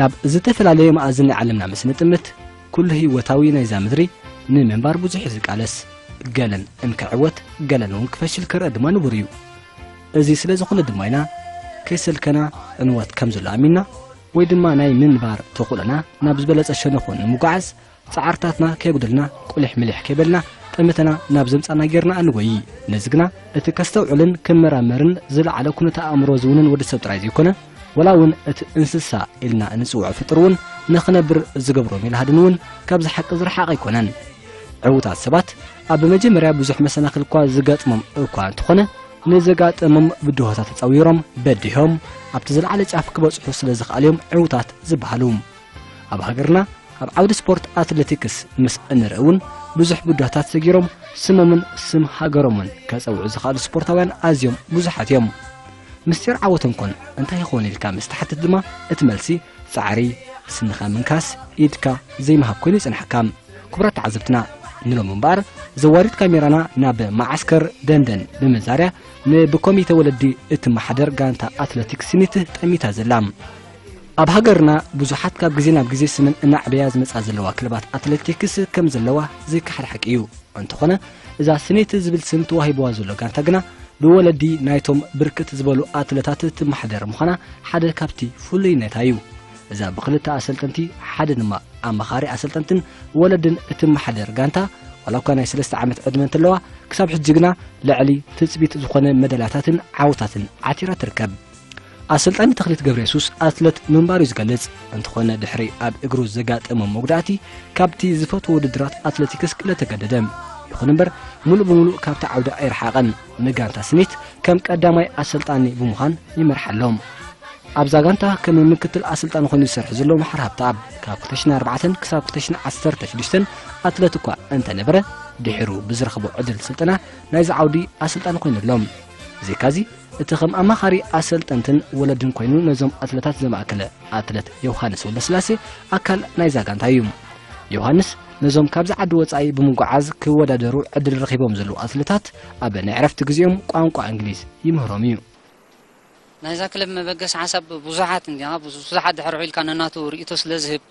ናብ ዝተፈላለየ መኣዝን ናይ ዓለምና ምስ ንጥምት ኩሉ ህይወታዊ ናይዛ ምድሪ ንምንባር ብዙሕ እዩ ዝቃለስ ገለን እንክዕወት ገለን እውን ክፈሽል ክረአ ድማ ንቡር እዩ እዚ ስለ ዝኾነ ድማ ኢና ከይሰልከና ዕንወት ከም ዘሎ ኣሚንና ወይ ድማ ናይ ምንባር ተኽእሎና ናብ ዝበለጸ ሸነኹ ንምጓዓዝ ጻዕርታትና ከይጉድልና ቁሊሕ ምሊሕ ከይበልና ጠመተና ናብ ዘምጻና ጌርና እንጎዪ። ነዚ ግና እቲ ከስተውዕልን ክመራመርን ዝለዓለ ኩነተ ኣእምሮ ዝውንን ወዲ ሰብ ጥራይ ዘይኮነ ወላ ውን እቲ እንስሳ ኢልና እንጽውዖ ፍጡር ውን ንኽነብር ዝገብሮ ሜላሃድን ውን ካብዚ ሓቂ ዝረሓቐ ኣይኮነን። ዕውታት ሰባት ኣብ መጀመርያ ብዙሕ መሰናኽል'ኳ ዝገጥሞም እኳ እንተኾነ ንዘጋጠሞም ብድሆታት ተጻዊሮም በዲሆም ኣብቲ ዝለዓለ ጫፍ ክበጽሑ ስለ ዝኸኣሉ'ዮም ዕውታት ዝበሃሉ። ኣብ ሃገርና ኣብ ዓውዲ ስፖርት ኣትሌቲክስ ምስ እንርኢ እውን ብዙሕ ብዳታት ሰጊሮም ስሞምን ስም ሃገሮምን ከጸውዑ ዝኽኣሉ ስፖርታውያን ኣዝዮም ብዙሓት እዮም ምስጢር ዓወቶም ኮን እንታይ ይኾን ኢልካ ምስ ተሓትት ድማ እቲ መልሲ ጻዕሪ ስንኻ ምንካስ ኢድካ ዘይምሃብ ኮይኑ ይጽንሓካ ክቡራት ተዓዘብትና ንሎም እምበኣር ዘዋሪት ካሜራና ናብ መዓስከር ደንደን ብምዛርያ ንብኮሚተ ወለዲ እትመሓደር ጋንታ ኣትለቲክስ ሲኒት ጠሚታ ዘላ ኣብ ሃገርና ብዙሓት ካብ ግዜ ናብ ግዜ ስመን እናዕበያ ዝመጻ ዘለዋ ክለባት ኣትሌቲክስ ከም ዘለዋ ዘይከሓድ ሓቂ እዩ እንተኾነ እዛ ስኔት ዝብል ስም ተዋሂብዋ ዘሎ ጋንታ ግና ብወለዲ ናይቶም ብርክት ዝበሉ ኣትለታት ትመሓደር ምዃና ሓደ ካብቲ ፍሉይነታ እዩ እዛ ብክልተ ኣሰልጠንቲ ሓደ ድማ ኣማኻሪ ኣሰልጠንትን ወለድን እትመሓደር ጋንታ ዋላ እኳ ናይ ሰለስተ ዓመት ዕድመ እንተለዋ ክሳብ ሕጂ ግና ልዕሊ ትፅቢት ዝኾነ መደላታትን ዓውታትን ዓቲራ ትርከብ ኣሰልጣኒ ተኽሊት ገብረየሱስ ኣትለት ምንባሩ እዩ ዝገልጽ። እንተኾነ ድሕሪ ኣብ እግሩ ዘጋጠመ መጉዳእቲ ካብቲ ዝፈትዎ ውድድራት ኣትለቲክስ ክለ ተገደደ። ይኹን እምበር ሙሉእ ብምሉእ ካብቲ ዓውዲ ኣይረሓቐን። ንጋንታ ስኒት ከም ቀዳማይ ኣሰልጣኒ ብምዃን ይመርሓ ኣሎ። ኣብዛ ጋንታ ከም ምክትል ኣሰልጣኒ ኮይኑ ዝሰርሕ ዘሎ መሓር ሃብተኣብ ካብ 2004 ክሳብ 2016 ኣትለት እኳ እንተነበረ ድሒሩ ብዝረኽቦ ዕድል ስልጠና ናይዚ ዓውዲ ኣሰልጣኒ ኮይኑ ኣሎ። ብዘይካዚ እቲ ከም ኣማኻሪ ኣሰልጠንትን ወለድን ኮይኑ ነዞም ኣትለታት ዘማእከለ ኣትለት ዮውሃንስ ወልደስላሴ ኣካል ናይዛ ጋንታ እዩ። ዮውሃንስ ነዞም ካብዚ ዓዲ ወጻኢ ብምጉዓዝ ክወዳደሩ ዕድል ረኺቦም ዘለዉ ኣትለታት ኣብ ናይ ዕረፍቲ ግዜኦም ቋንቋ እንግሊዝ ይምህሮም እዩ። ናይዛ ክለብ መበገሲ ሓሳብ ብዙሓት እንዲያ ብዙሓት ድሕር ዊልካ ነናቱ ርእይቶ ስለ ዝህብ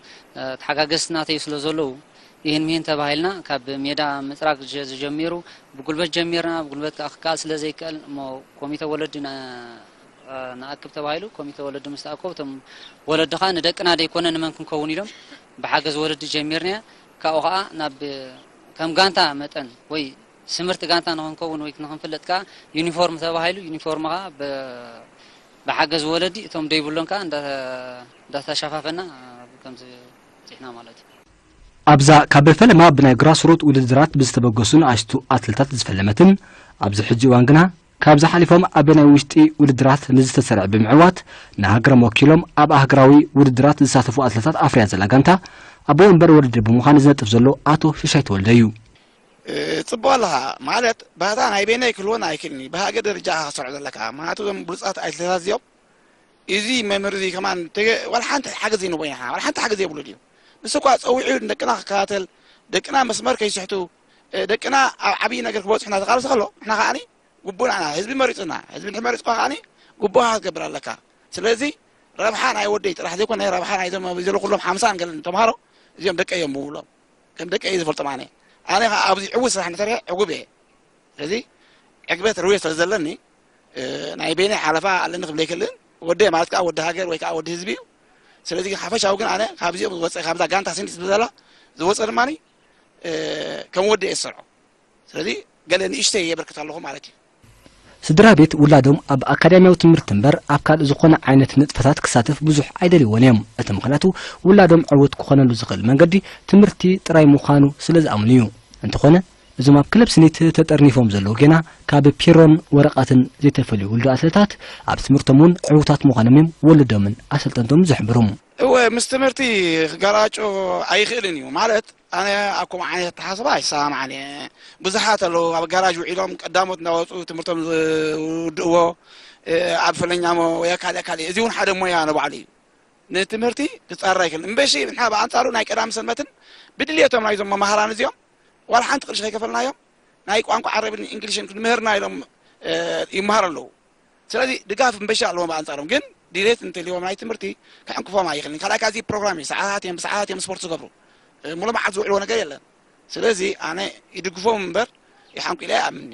ተሓጋገዝቲ ናተይ ስለ ዘለዉ ኢሂን ምሂን ተባሂልና ካብ ሜዳ ምጽራግ ዝጀሚሩ ብጉልበት ጀሚርና ብጉልበት ከኣ ክከኣል ስለ ዘይከኣል እሞ ኮሚተ ወለዲ ንኣክብ ተባሂሉ ኮሚተ ወለዲ ምስ ተኣከቡ እቶም ወለዲ ከኣ ንደቅና ደይኮነ ንመን ክንከውን ኢሎም ብሓገዝ ወለዲ ጀሚርናያ ካብኡ ከኣ ናብ ከም ጋንታ መጠን ወይ ስምርቲ ጋንታ ንክንከውን ወይ ንክንፍለጥ ከኣ ዩኒፎርም ተባሂሉ ዩኒፎርም ከኣ ብሓገዝ ወለዲ እቶም ደይብሎም ከኣ እንዳተሻፋፈና ከምዚ በጺሕና ማለት እዩ። ኣብዛ ካብ ፈለማ ብናይ ግራስሩት ውድድራት ብዝተበገሱ ንኣሽቱ ኣትለታት ዝፈለመትን ኣብዚ ሕጂ እዋን ግና ካብዚ ሓሊፎም ኣብ ናይ ውሽጢ ውድድራት ንዝተሰርዐ ብምዕዋት ንሃገሮም ወኪሎም ኣብ ኣህግራዊ ውድድራት ዝሳተፉ ኣትለታት ኣፍርያ ዘላ ጋንታ ኣቦ ወንበር ውድድር ብምዃን ዝነጥፍ ዘሎ ኣቶ ሽሻይ ተወልደ እዩ። ጽቡቅ ኣለኻ ማለት ባህታ ናይ በይነይ ክልወን ኣይክእልን'ዩ ብሃገር ደረጃ ኢኻ ክትሰርዖ ዘለካ ምኽንያቱ እዞም ብሉጻት ኣይትለታት እዚኦም እዚ መምህር እዚ ከማን ተገ ዋላ ሓንቲ ሓገዝ ዘይንህቦ ኢና ንሕና ዋላ ሓንቲ ሓገዝ ዘይብሉ ድዩ ንሱ እኳ ፀዊዑ ንደቅና ክከታተል ደቅና መስመር ከይስሕቱ ደቅና ኣብ ዓብዪ ነገር ክበፅሑ እናተቃለሰ ከሎ ንሕና ከዓኒ ግቡእ ንዓና ህዝቢ መሪፁና ህዝቢ ድሕሪ መሪፅኳ ከዓኒ ግቡእካ ክትገብር ኣለካ ስለዚ ረብሓ ናይ ወደይ ጥራሕ ዘይኮነ ረብሓ ናይዞም ኣብዚ ዘለዉ ኩሎም ሓምሳን ገለን ተምሃሮ እዚኦም ደቀ እዮም ምብሎም ከም ደቀ እየ ዝፈልጦም ኣነ ኣነ ከዓ ኣብዚ ዕዉት ስራሕ እንተሰርሐ ዕጉብ እየ ስለዚ ዕግበት ርውየ ስለ ዘለኒ ናይ በይነይ ሓለፋ ኣለኒ ክብል ኣይክእልን ወደይ ማለት ከዓ ወዲ ሃገር ወይ ከዓ ወዲ ህዝቢ እዩ ስለዚ ግን ሓፈሻዊ ግን ኣነ ካብዚኦም ዝወፀ ካብዛ ጋንታ ስኒ ትብል ዘላ ዝወፀ ድማ ከም ወዲ እየ ዝሰርዖ ስለዚ ገለ ንእሽተይ የበርክት ኣለኹ ማለት እዩ ስድራ ቤት ውላዶም ኣብ ኣካዳሚያዊ ትምህርቲ እምበር ኣብ ካልእ ዝኾነ ዓይነት ንጥፈታት ክሳተፍ ብዙሕ ኣይደልይዎን እዮም እቲ ምኽንያቱ ውላዶም ዕውት ክኾነሉ ዝኽእል መንገዲ ትምህርቲ ጥራይ ምዃኑ ስለ ዝኣምኑ እዩ እንተኾነ እዞም ኣብ ክለብ ስኒት ተጠርኒፎም ዘለዉ ጌና ካብ ፒሮን ወረቓትን ዘይተፈልዩ ውልዶ ኣትለታት ኣብ ትምህርቶም እውን ዕውታት ምዃኖም እዮም ወለዶምን ኣሰልጠንቶምን ዝሕብሩ። እወ ምስ ትምህርቲ ክገራጮ ኣይኽእልን እዩ ማለት ኣነ ኣብ ከምኡ ዓይነት ኣተሓሳስባ ኣይሰማማዕን እየ ብዙሓት ኣለዉ ኣብ ጋራጅ ውዒሎም ቀዳሞት እናወፁ ትምህርቶም ዝውድእዎ ኣብ ፈለኛሞ ወይ ካልእ ካልእ እዚ እውን ሓደ ሞያ ንባዕሉ እዩ ንትምህርቲ ክፃረር ኣይክእልን እምበሺ ንሕና ብኣንፃሩ ናይ ቀዳም ሰንበትን ብድልየቶም ናይዞም መማህራን እዚኦም ዋላ ሓንቲ ቅርሺ ከይከፈልናዮም ናይ ቋንቋ ዓረብን እንግሊሽን ክንምህርና ኢሎም ይመሃሩ ኣለዉ ስለዚ ድጋፍ ምበሻ ኣለዎም ብኣንጻሮም ግን ድሌት እንተልዎም ናይ ትምህርቲ ክዕንቅፎም ኣይኽእልን ካልኣይ ካዚ ፕሮግራም እዩ ሰዓታት እዮም ብሰዓታት እዮም ስፖርት ዝገብሩ ሙሉ መዓልቲ ዝውዕልዎ ነገር የለን ስለዚ ኣነ ይድግፎም እምበር ይሓንቁ ኢለ ኣይኣምንኒ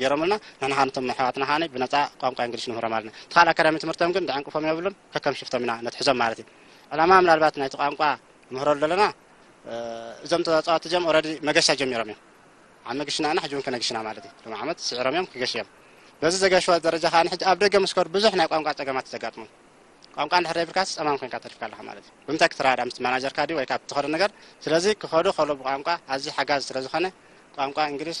ጌሮምልና ንሕና ከኣ ነቶም ኣሕዋትና ከኣ ብነጻ ቋንቋ እንግሊሽ ንምህሮም ኣለና እቲ ካልእ ኣካዳሚ ትምህርቶም ግን ደዕንቅፎም የብሉን ከከም ሽፍቶም ኢና ነትሕዞም ማለት እዩ ዕላማ ምናልባት ናይቲ ቋንቋ ንምህረሉ ዘለና እዞም ተጻዋቲ እዚኦም ኦረዲ መገሻ ጀሚሮም እዮም ኣብ መግሽና ኢና ሕጂ እውን ክነግሽና ማለት እዩ ሎም ዓመት ስዒሮም እዮም ክገሽ እዮም በዚ ዘገሽዎ ደረጃ ከዓ ንሕጂ ኣብ ደገ ምስ ከዱ ብዙሕ ናይ ቋንቋ ፀገማት ዘጋጥሞም ቋንቋ እንድሕር ዘይብልካስ ፀማም ኮይንካ ተሪፍካ ኣለካ ማለት እዩ ብምንታይ ክትረዳዳ ምስ ማናጀርካ ድዩ ወይ ካብ ትኸዶ ነገር ስለዚ ክኸዱ ከሎ ብቋንቋ ኣዝዩ ሓጋዚ ስለ ዝኾነ ቋንቋ እንግሊሽ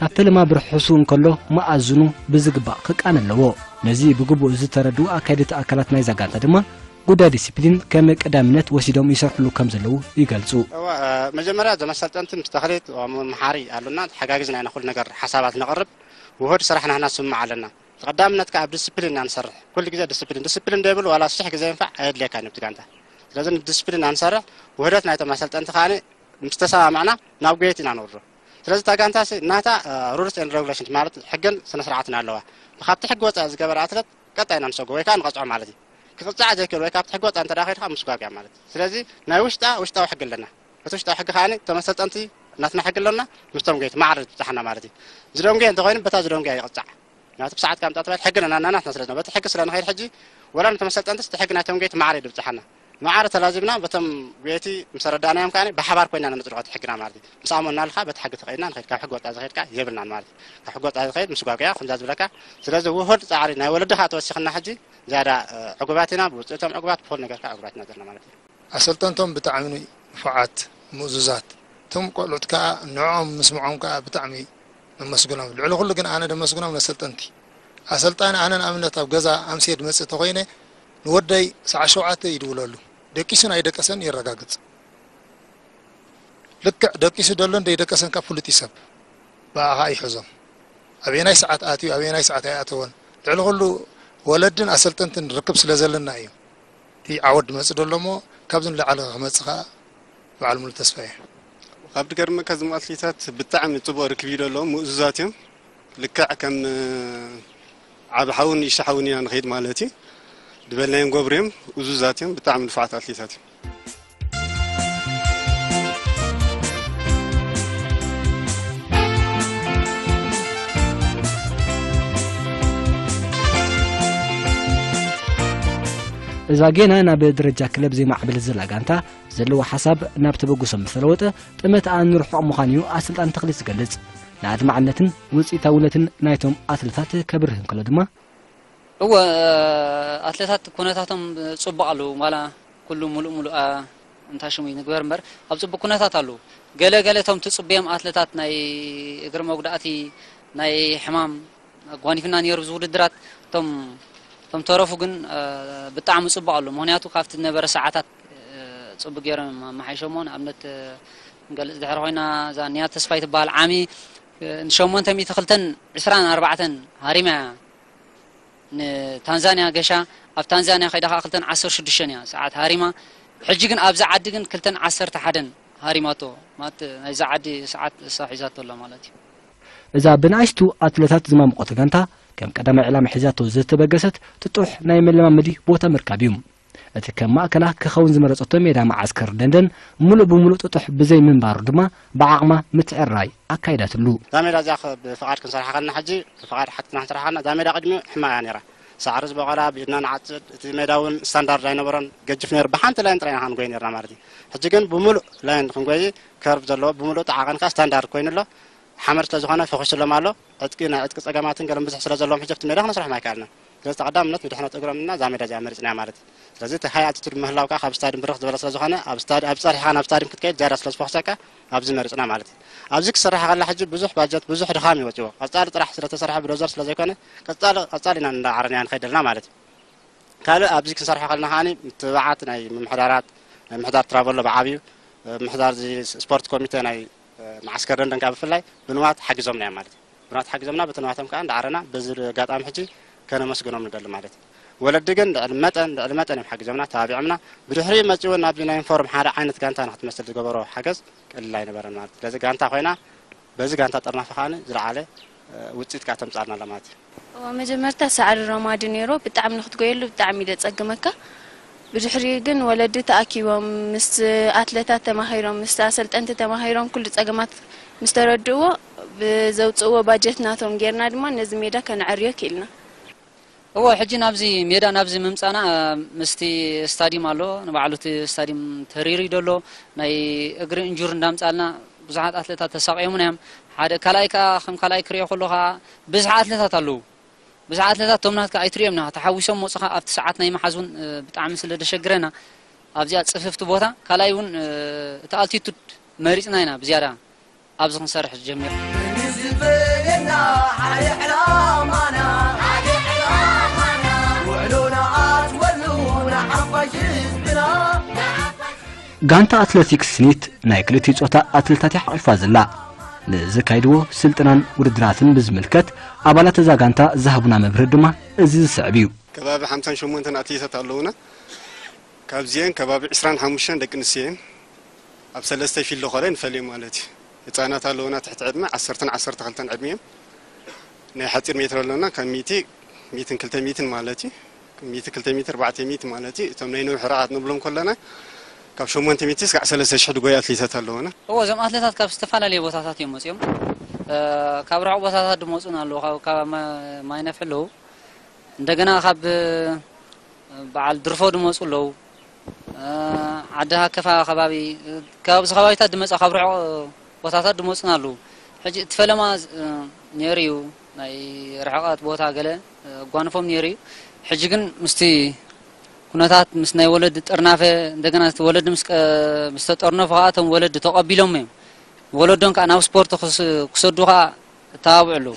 ካብ ፈለማ ብርሕሱ እንከሎ መኣዝኑ ብዝግባእ ክቃነ ኣለዎ። ነዚ ብግቡእ ዝተረድኡ ኣካየድቲ ኣካላት ናይዛ ጋንታ ድማ ጉዳይ ዲሲፕሊን ከም ቀዳምነት ወሲዶም ይሰርሕሉ ከም ዘለዉ ይገልጹ። እወ እ፣ መጀመርያ እዞም ኣሰልጠንቲ ምስ ተኽሊት እ፣ መምሃሪ ኣሎና ተሓጋጊዝና ኢና ኩሉ ነገር ሓሳባት ነቕርብ ውሁድ ስራሕ ናህና ስምምዕ ኣለና ቀዳምነት ከኣ ኣብ ዲሲፕሊን ኢና ንሰርሕ ኩሉ ግዜ ዲሲፕሊን ዲሲፕሊን ዘይብሉ ዋላ ሽሕ ግዜ ይንፋዕ ኣየድልየካን እዩ ኣብቲ ጋንታ ስለዚ ንዲሲፕሊን ኢና ንሰርሕ ውህደት ናይቶም ኣሰልጠንቲ ከኣ ምስ ተሰማምዕና ናብ ጎየት ኢና ንወርዶ ስለዚ እታ ጋንታሲ ናታ ሩልስ ኤንድ ረጉሌሽንስ ማለት ሕግን ስነስርዓትን ኣለዋ። ንካብቲ ሕጊ ወጻኢ ዝገበረ ኣትለት ቀጣይ ኢና ንሰጎ ወይ ከኣ ንቐጽዖ ማለት እዩ። ክቕጽዓ ዘይክእል ወይ ካብቲ ሕጊ ወጻኢ እንተ ከይዱ ከኣ ምስጓግ እያ ማለት እዩ። ስለዚ ናይ ውሽጣ ውሽጣዊ ሕጊ ኣለና። እቲ ውሽጣዊ ሕጊ ከኣ እቶም ኣሰልጠንቲ ናትና ሕጊ ኣሎና ምስቶም ጎየይቲ ማዕረ ዝብጻሓና ማለት እዩ። ዝደንጉየ እንተ ኮይኑ በታ ዝደንጉያ ይቕጻዕ። ምክንያቱ ብሰዓት ካምጻ ተባሂሉ ሕጊ ነናናትና ስለ ዝነበረ በቲ ሕጊ ስለ ንኸይድ ሕጂ ወላ ነቶም ኣሰልጠንትስ እቲ ሕጊ ናይቶም ጎየይቲ ማዕረ እዩ ዝብጻሓና። ማዕረ ተላዚብና በቶም ጉየይቲ ምስ ኣረዳእናዮም ከኣ ብሓባር ኮይና ነጽድቆ እቲ ሕግና ማለት እዩ። ምስ ኣመንናሉ ከኣ በቲ ሕጊ ተኸይድና ንኸይድ ካብ ሕጊ ወጻኢ ዝኸይድ ከኣ የብልናን ማለት እዩ። ካብ ሕጊ ወጻኢ ዝኸይድ ምስጓግ እያ ከምዛ ዝብለካ ስለዚ ውሁድ ጻዕሪ ናይ ወለዲ ከኣ ተወሲኽና ሕጂ ዝያዳ ዕጉባት ኢና ብውጽኢቶም ዕጉባት ብኹሉ ነገር ከኣ ዕጉባት ኢና ዘለና ማለት እዩ። ኣሰልጠንቶም ብጣዕሚ ንፉዓት ምእዙዛት እቶም ቆልዑት ከኣ ንዕኦም ምስምዖም ከኣ ብጣዕሚ ነመስግኖም ልዕሊ ኩሉ ግን ኣነ ደመስግኖም ነሰልጠንቲ ኣሰልጣኒ ኣነ ንኣብነት ኣብ ገዛ ኣምስየ ድመጽእ ተኾይነ ንወደይ ሰዓት ሸውዓተ ይድውለሉ ደቂሱ ናይ ደቀሰን የረጋግጽ ልክዕ ደቂሱ ደሎን ደይደቀሰን ካብ ፍሉጥ እዩ ሰብ ብኣ ከኣ ይሕዞም ኣበየናይ ሰዓት ኣትዩ ኣበየናይ ሰዓት ኣይኣተወን ልዕሊ ኩሉ ወለድን ኣሰልጠንትን ርክብ ስለ ዘለና እዩ እቲ ዓወት ድመጽእ ደሎ እሞ ካብዚ ንላዕሊ ክመጽእ ከኣ በዓል ሙሉ ተስፋ እየ ካብቲ ገርመካ ዝም ኣትሌታት ብጣዕሚ ጽቡቅ ርክብ እዩ ደሎ ምእዙዛት እዮም ልክዕ ከም ዓቢ ሓውን ንእሽቶ ሓውን ኢና ንኸይድ ማለት እዩ ዝበልናዮ ንገብሩ እዮም እዙዛት እዮም ብጣዕሚ ንፉዓት ኣትሌታት እዮም እዛ ጌና ናብ ደረጃ ክለብ ዘይማዕብል ዘላ ጋንታ ዘለዎ ሓሳብ ናብ ተበግሶ ምስ ተለወጠ ጥመት ኣንርሑቕ ምዃን እዩ ኣሰልጣኒ ተኽሊት ዝገልጽ ንኣድማዕነትን ውጽኢታውነትን ናይቶም ኣትለታት ከብርህ እንከሎ ድማ፣ እወ ኣትለታት ኩነታቶም ጽቡቕ ኣለዉ፣ ዋላ ኩሉ ምሉእ ምሉእ ኣ እንታ ሽሙ ይንግበር እምበር ኣብ ጽቡቕ ኩነታት ኣለዉ። ገለ ገለ እቶም ትጽብዮም ኣትለታት ናይ እግሪ መጉዳእቲ፣ ናይ ሕማም ኣጓኒፍና ኔሩ እዚ ውድድራት፣ እቶም እቶም ዝተረፉ ግን ብጣዕሚ ጽቡቕ ኣለዉ፣ ምኽንያቱ ካብቲ ዝነበረ ሰዓታት ጽቡቕ ጌሮም እዮም ኣመሓይሸሞ፣ ንኣብነት ክንገልጽ ድሕሪ ኮይና እዛ ንያት ተስፋይ ትበሃል ዓሚ ን ሸሞንተ ሚእቲ ክልተን ዕስራን ኣርባዕተን ሃሪማ እያ ንታንዛንያ ገሻ ኣብ ታንዛንያ ከይዳ ከኣ ክልተን ዓሰርተ ሽዱሽተን እያ ሰዓት ሃሪማ ሕጂ ግን ኣብዛ ዓዲ ግን ክልተን ዓሰርተ ሓደን ሃሪማቶ ማለት ናይዛ ዓዲ ሰዓት እሳ ሒዛቶ ኣላ ማለት እዩ እዛ ብንኣሽቱ ኣትለታት ዝማሙቖት ጋንታ ከም ቀዳማይ ዕላማ ሒዛቶ ዝተበገሰት ጥጡሕ ናይ መለማመዲ ቦታ ምርካብ እዩ። እቲ ከም ማእከላ ክኸውን ዝመረጸቶ ሜዳ መዓስከር ደንደን ምሉእ ብምሉእ ጥጡሕ ብዘይ ምንባሩ ድማ ብዓቕማ ምትዕርራይ ኣካይዳትሉ። እዛ ሜዳ እዚኣ ብፍቓድ ክንሰርሓ ከለና ሕጂ ብፍቓድ ሓቲትና ክንሰርሓ ከለና እዛ ሜዳ ቅድሚኡ ሕማቕ እያ ነይራ። ሳዕሪ ዝበቖላ ብኢድና ንዓጽድ፣ እቲ ሜዳ እውን ስታንዳርድ ኣይነበሮን ገጅፍ ነይሩ ብሓንቲ ላይን ጥራይ ኢና ከኣ ንጎይ ነይርና ማለት እዩ። ሕጂ ግን ብምሉእ ላይን ክንጎይ ከርቭ ዘለዎ ብምሉእ እቲ ዓቐን ከኣ ስታንዳርድ ኮይኑ ኣሎ። ሓመድ ስለ ዝኾነ ፈኹሱሎም ኣሎ። ዕጥቂ ናይ ዕጥቂ ጸገማትን ገለን ብዙሕ ስለ ዘለዎም ሕጂ ኣብቲ ሜዳ ክነስርሖም ኣይከኣልናን። ስለዚ ተቐዳምነት ንድሕነት እግሮም እና እዛ ሜዳ እዚኣ መሪጽናያ ማለት እዩ። ስለዚ እቲ ሃይ ኣልቲቱድ ምህላው ከኣ ካብ ስታድዩም ብርኽ ዝበለ ስለ ዝኾነ ኣብ ስታድ ኣብዚ ጸርሒኻ ናብ ስታድዩም ክትከይድ ዝያዳ ስለ ዝፎኽሰካ ኣብዚ መሪጽና ማለት እዩ። ኣብዚ ክስራሕ ከላ ሕጂ ብዙሕ ባጀት ብዙሕ ድኻም እዩ ወጺዎ ቀጻሊ ጥራሕ ስለ ተሰርሐ ብዶዘር ስለ ዘይኮነ ቀጻሊ ቀጻሊ ኢና እንዳዓረናያ ንኸይድ ኣለና ማለት እዩ። ካልእ ኣብዚ ክንሰርሖ ከለና ከኣ ምትብባዓት ናይ ምምሕዳራት ናይ ምሕዳር ትራቨሎ ብዓቢኡ ምሕዳር እዚ ስፖርት ኮሚቴ ናይ መዓስከር ለንደን ከኣ ብፍላይ ብንዋት ሓጊዞምና እዮም ማለት እዩ። ብንዋት ሓጊዞምና በቲ ንዋቶም ከኣ እንዳዓረና በዚ ኣጋጣሚ ሕጂ ከነመስግኖም ንደሊ ማለት እዩ። ወለዲ ግን ልዕሊ መጠን ልዕሊ መጠን እዮም ሓጊዞምና ተባቢዖምና። ብድሕሪኡ መጺኡ እውን ናብዚ ናይ ዩኒፎርም ሓደ ዓይነት ጋንታ ንክትመስል ዝገበሮ ሓገዝ ቀሊል ኣይነበረን ማለት እዩ። ስለዚ ጋንታ ኮይና በዚ ጋንታ ጥርናፈ ከኣ ዝለዓለ ውጺት ከኣ ተምጻኣልና ኣላ ማለት እዩ። እወ መጀመርታ ሳዕሪ ረማዲ ኔሮ ብጣዕሚ ንክትጎየሉ ብጣዕሚ እዩ ደጸግመካ ብድሕሪኡ ግን ወለዲ ተኣኪቦም ምስ ኣትለታት ተማኺሮም ምስ ኣሰልጠንቲ ተማኺሮም ኩሉ ጸገማት ምስ ተረድእዎ ብዘውጽእዎ ባጀት ናቶም ጌርና ድማ ነዚ ሜዳ ከነዐርዮ ኪኢልና። እወ ሕጂ ናብዚ ሜዳ ናብዚ ምምጻና ምስቲ ስታድዩም ኣሎ ንባዕሉ እቲ ስታድዩም ተሪርዩ ደሎ ናይ እግሪ እንጁር እንዳምጻልና ብዙሓት ኣትለታት ተሳቅዮሙና እዮም ሓደ ካልኣይ ከኣ ከም ካልኣይ ክሪኦ ከሎ ከኣ ብዝሒ ኣትለታት ኣለዉ ብዝሒ ኣትለታት እቶም ናትካ ኣይትሪኦምን ኢኻ ተሓዊሶም ሞጽኻ ኣብቲ ሰዓት ናይ ምሓዝ ውን ብጣዕሚ ስለ ደሸግረና ኣብዚኣ ጽፍፍቲ ቦታ ካልኣይ ውን እቲ ኣልቲቱድ መሪጽና ኢና ብዝያዳ ኣብዚ ክንሰርሕ ዝጀሚርና። ክንዝብ በለና ሓደ ዕላማና ሓደ ዕላማና ውዕሎ ንኣትወሉ ንሓፋሽ ህዝብና ጋንታ ኣትለቲክስ ስኒት ናይ ክልቲኡ ጾታ ኣትለታት እያ ሓቒፋ ዘላ። ንዝካይድዎ ስልጠናን ውድድራትን ብዝምልከት ኣባላት እዛ ጋንታ ዝሃቡና መብርሂ ድማ እዚ ዝስዕብ እዩ። ከባቢ ሓምሳን ሸሞንተን ኣትሌታት ኣለዉና። ካብዚኤን ከባቢ ዕስራን ሓሙሽተን ደቂ ኣንስትዮ እየን። ኣብ ሰለስተ ይፊሎ ከለ ንፈልዮም ማለት እዩ ህጻናት ኣለዉና ትሕቲ ዕድመ ዓሰርተን ዓሰርተ ክልተን ዕድመ እዮም ናይ ሓጺር ሜትር ኣለና ካብ ሚእቲ ሚእትን ክልተ ሚእትን ማለት እዩ ሚእቲ ክልተ ሚእቲ ኣርባዕተ ሚእቲ ማለት እዩ እቶም ናይ ነዊሕ ርሕቐት ንብሎም ከለና ካብ ሸሞንተ ሚእቲ እስካዕ ሰለስተ ሽሕ ድጎዩ ኣትሌታት ኣለዉና እወ እዞም ኣትለታት ካብ ዝተፈላለየ ቦታታት እዮም መፅኦም ካብ ርሑቕ ቦታታት ድመፁን ኣለዉ ካብ ካብ ማይነፍሒ ኣለዉ እንደገና ካብ በዓል ድርፎ ድመፁ ኣለዉ ዓዲ ሃከፋ ከባቢ ካብ እዚ ከባቢታት ድመፃ ካብ ርሑቕ ቦታታት ድመፁና ኣለዉ ሕጂ እቲ ፈለማ ነይሩ እዩ ናይ ርሕቐት ቦታ ገለ ኣጓንፎም ነይሩ እዩ ሕጂ ግን ምስቲ ኩነታት ምስ ናይ ወለዲ ጥርናፈ እንደገና እቲ ወለዲ ምስ ምስ ተጠርነፉ ከዓ እቶም ወለዲ ተቐቢሎም እዮም ወለዶም ከዓ ናብ ስፖርት ክሰዱ ከዓ እተባብዑ ኣለዉ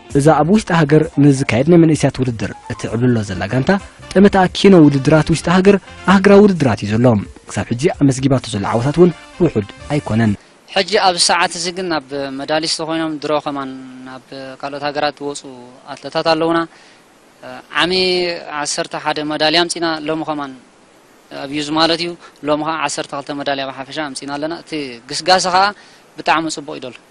እዛ ኣብ ውሽጢ ሃገር ንዝካየድ ናይ መንእስያት ውድድር እትዕብልሎ ዘላ ጋንታ ጠመትኣ ኪኖ ውድድራት ውሽጢ ሃገር ኣህግራዊ ውድድራት እዩ ዘሎ። ክሳብ ሕጂ ኣመዝጊባቶ ዘላ ዓወታት እውን ውሑድ ኣይኮነን። ሕጂ ኣብዚ ሰዓት እዚ ግን ኣብ መዳሊስት ኮይኖም ድሮ ከማን ናብ ካልኦት ሃገራት ዝወጹ ኣትለታት ኣለዉና። ዓሚ ዓሰርተ ሓደ መዳልያ ኣምጺእና ሎሚ ከማን ኣብዩዝ ማለት እዩ ሎሚ ከኣ ዓሰርተ ክልተ መዳልያ ብሓፈሻ ኣምጺእና ኣለና። እቲ ግስጋሰ ከኣ ብጣዕሚ ጽቡቕ እዩ ዘሎ።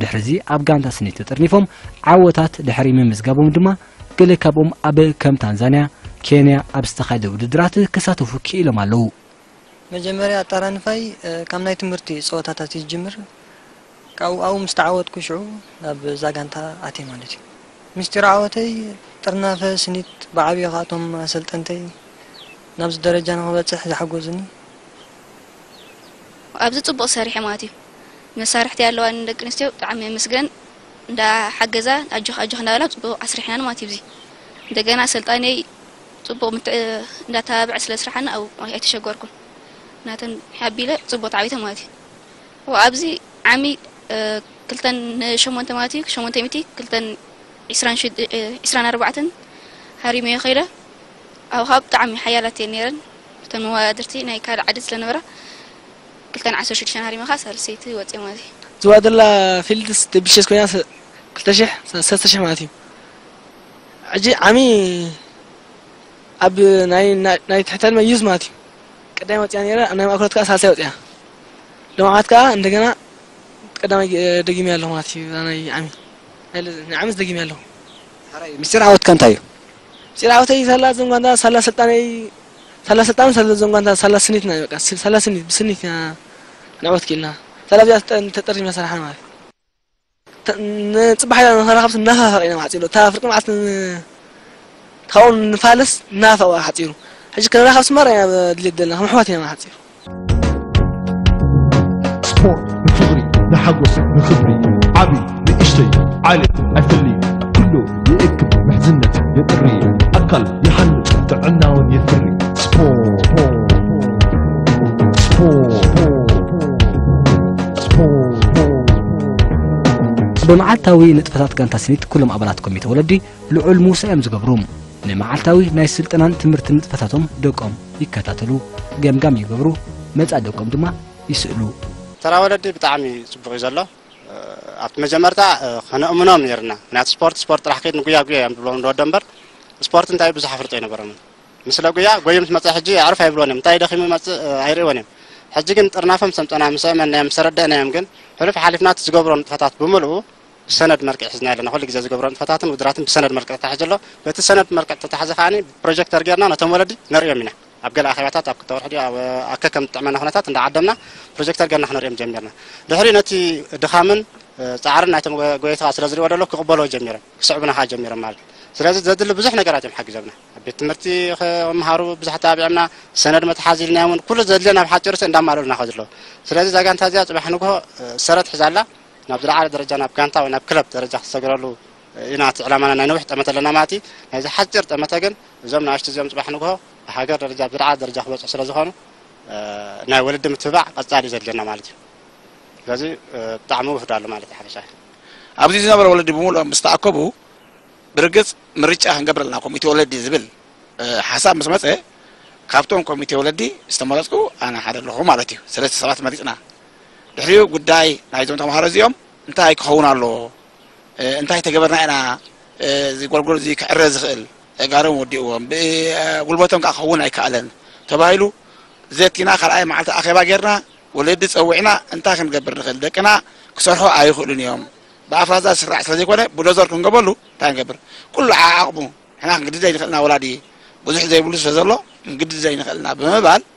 ድሕሪዚ ኣብ ጋንታ ስኒ ተጠርኒፎም ዓወታት ድሕሪ ምምዝጋቦም ድማ ገለ ካብኦም ኣብ ከም ታንዛንያ፣ ኬንያ ኣብ ዝተኻየደ ውድድራት ክሳተፉ ክኢሎም ኣለዉ። መጀመርያ ኣጠራንፋይ ካብ ናይ ትምህርቲ ጸወታታት እዩ ዝጅምር። ካብኡ ኣብኡ ምስ ተዓወትኩ ሽዑ ናብ እዛ ጋንታ ኣትየ ማለት እዩ። ምስጢር ዓወተይ ጥርናፈ ስኒት ብዓብዩ ከኣ እቶም ኣሰልጠንተይ ናብዚ ደረጃ ንኽበጽሕ ዝሓጎዙኒ፣ ኣብዚ ጽቡቅ ሰሪሐም ኣትዩ መሳርሕቲ ኣለዋኒ ንደቂ ኣንስትዮ ብጣዕሚ የመስገን እንዳ ሓገዛ ኣጆኪ ኣጆኪ እንዳ በላ ጽቡቅ ኣስሪሐናንም ኣትዩ ኣብዚ እንደገና ኣሰልጣኒየይ ጽቡቅ ምትዕ እንዳ ኣተባብዐ ስለ ኣስርሓኒ ኣብኡ ኣይተሸገርኩን ናተን ሓቢለ ጽቡቅ ተዓዊተም ኣትዩ እወ ኣብዚ ዓሚ ክልተን ን ሸሞንተ ኣትዩ ሸሞንተ ሚእቲ ክልተን ዒስራን ዒስራን ኣርባዕተን ሃሪመዮ ከይደ ኣብኻ ብጣዕሚ ሓያላት እየን ነይረን እተን መዋዳድርቲ ናይ ካልእ ዓዲ ስለነበራ ክልተን ዓሰርተ ሽዱሽተን ሃሪመኻ ሳልሰይቲ ወጺኦም ማለት እዩ። ዝዋደላ ፊልድስ ደብሸስ ኮይና ክልተ ሽሕ ሰለስተ ሽሕ ማለት እዩ ሕጂ ዓሚ ኣብ ናይ ናይ ትሕተን መዩዝ ማለት እዩ ቀዳይ ወጽያ ነይረ ኣብ ናይ ማእከሎት ከኣ ሳልሳይ ወጽያ ሎም ዓመት ከኣ እንደገና ቀዳማይ ደጊመያ ኣለኹ ማለት እዩ ናይ ዓሚ ናይ ዓሚስ ደጊመያ ኣለኹ። ሐራይ ምስጢር ዓወትካ እንታይ እዩ? ጭራውተይ ሳላ ዘንጓንታ ሳላ ስልጣነይ ሳላ ስልጣን ሳላ ዘንጓንታ ሳላ ስኒት ናይ በቃ ሳላ ስኒት ብስኒት ኢና ክንዕወት ክኢልና ሳላ እዚኣ ተጠሪዝና ሰራሕና ማለት ንፅባሕ ኢላ ንኸራኸብቲ እናፋፈቅ ኢና ማዕፂሉ እታ ፍርቂ መዓልቲ ካብኦም ንፋለስ እናፋፈቅ ሓፂሩ ሕጂ ክንራኸብ ስማር ኢና ድሌት ዘለና ከም ኣሕዋት ኢና ሓፂሩ ስፖርት ንፍቕሪ ንሓጎስ ንኽብሪ ዓቢ ንእሽተይ ዓሌት ኣይፍሊ ኩሉ ይእክብ ምሕዝነት የጥሪ ኣካል ይሃንጽ ጥዕናውን የፍሪ ስፖርት ብመዓልታዊ ንጥፈታት ጋንታ ስኒት ኩሎም ኣባላት ኮሚተ ወለዲ ልዑል ምውሳእ እዮም ዝገብሩ። ንመዓልታዊ ናይ ስልጠናን ትምህርቲ ንጥፈታቶም ደቆም ይከታተሉ፣ ገምጋም ይገብሩ፣ መጻኢ ደቆም ድማ ይስእሉ። ተራ ወለዲ ብጣዕሚ ጽቡቕ እዩ ዘሎ። ኣብቲ መጀመርታ ከነእምኖም ነርና ምክንያቱ ስፖርት ስፖርት ጥራሕ ከይድ ንጉያ ጉያ እዮም ዝብሎም ንወዶ እምበር ስፖርት እንታይ ብዙሕ ኣፍልጦ ኣይነበሮምን ምስለ ጉያ ጎዩ ምስ መፀ ሕጂ ኣዕርፍ ኣይብልዎን እዮም እንታይ ደኺሙ መፅእ ኣይርእዎን እዮም ሕጂ ግን ጥርናፎም ሰምጠና ምስ እመናዮም ምስ ተረደእናዮም ግን ሕሉፍ ሓሊፍናት ዝገብሮ ንጥፈታት ብምልኡ ብሰነድ መርቅዕ ሒዝናዮ ኣለና ኩሉ ግዜ ዝገብሮ ንጥፈታትን ውድራትን ብሰነድ መርቅዕ ተታሒዙ ኣሎ በቲ ሰነድ መርቅዕ ተታሕዘ ከኣ ብፕሮጀክተር ጌርና ነቶም ወለዲ ነርእዮም ኢና ኣብ ገለ ኣኼባታት ኣብ ክልተ ወርሒ ድዩ ኣብ ኣብ ከከም ዝጥዕመና ኩነታት እንዳዓደምና ፕሮጀክተር ጌርና ክነርእዮም ጀሚርና ድሕሪኡ ነቲ ድኻምን ጻዕርን ናይቶም ጎየይቲ ከኣ ስለ ዝርእዎ ደሎ ክቕበልዎ ጀሚሮም ክስዕቡና ከኣ ጀሚሮም ማለት እዩ ስለዚ ዘድሊ ብዙሕ ነገራት እዮም ሓጊዞምና ኣብ ቤት ትምህርቲ ክመሃሩ ብዙሕ ኣተባቢዖምና ሰነድ መትሓዚ ኢልናዮም ኩሉ ዘድልዮም ኣብ ሓጺርሲ እንዳማልኡልና ከድሎ ስለዚ እዛ ጋንታ እዚኣ ጽባሕ ንግሆ ሰረት ሒዛ ኣላ ናብ ዝለዓለ ደረጃ ናብ ጋንታ ወይ ናብ ክለብ ደረጃ ክትሰግረሉ ኢና እቲ ዕላማና ናይ ነዊሕ ጠመተ ኣለና ማለት እዩ ናይዚ ሓጺር ጠመተ ግን እዞም ንኣሽቱ እዚኦም ጽባሕ ንግሆ ብሃገር ደረጃ ኣብ ዝለዓለ ደረጃ ክበጽሑ ስለ ዝኾኑ ናይ ወለዲ ምትብባዕ ቀጻሊ እዩ ዘድልየና ማለት እዩ ስለዚ ብጣዕሚ ውህዶ ኣሎ ማለት እዩ ሓፈሻ ኣብዚ ዝነበረ ወለዲ ብምሉኦም ምስ ተኣከቡ ብርግጽ ምርጫ ክንገብር ኣለና ኮሚቴ ወለዲ ዝብል ሓሳብ ምስ መጸ ካብቶም ኮሚቴ ወለዲ ዝተመረጽኩ ኣነ ሓደ ኣለኹ ማለት እዩ ሰለስተ ሰባት መሪጽና ድሕሪኡ ጉዳይ ናይዞም ተምሃሮ እዚኦም እንታይ ክኸውን ኣለዎ፣ እንታይ ተገበርና ኢና እዚ ጎልጎል እዚ ክዕረ ዝኽእል፣ ተጋሩን ወዲእዎም ብጉልበቶም ከዓ ክኸውን ኣይከኣለን ተባሂሉ ዘቲና ካልኣይ መዓልቲ ኣኼባ ጌርና ወለዲ ፀዊዕና እንታይ ክንገብር ንኽእል፣ ደቅና ክሰርሑ ኣይኽእሉን እዮም፣ ብኣፍራዛ ዝስራዕ ስለዘይኮነ ቡለዞር ክንገበሉ እንታይ ንገብር፣ ኩሉ ዓዓቕሙ ንሕና ክንግድድ ዘይንኽእል ኢና ወላዲ ብዙሕ ዘይብሉ ስለዘሎ ክንግድድ ዘይንኽእል ኢና ብምባል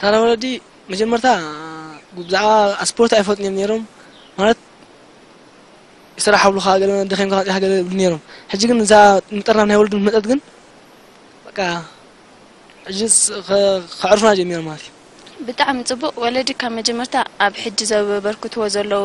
ታራ ወለዲ መጀመርታ ብዛዕባ ኣስፖርት ኣይፈልጡን እዮም ነይሮም ማለት ስራሕ ኣብሉካ ገለ ደኺምካ ወጺኻ ገለ ይብሉ ነይሮም ሕጂ ግን እዛ ንጠርና ናይ ወለዱ መጠት ግን በቃ ሕጂ ከዕርፉና ጀሚሮም ማለት እዩ ብጣዕሚ ጽቡቅ ወለዲ ካብ መጀመርታ ኣብ ሕጂ ዘበርክትዎ ዘለዉ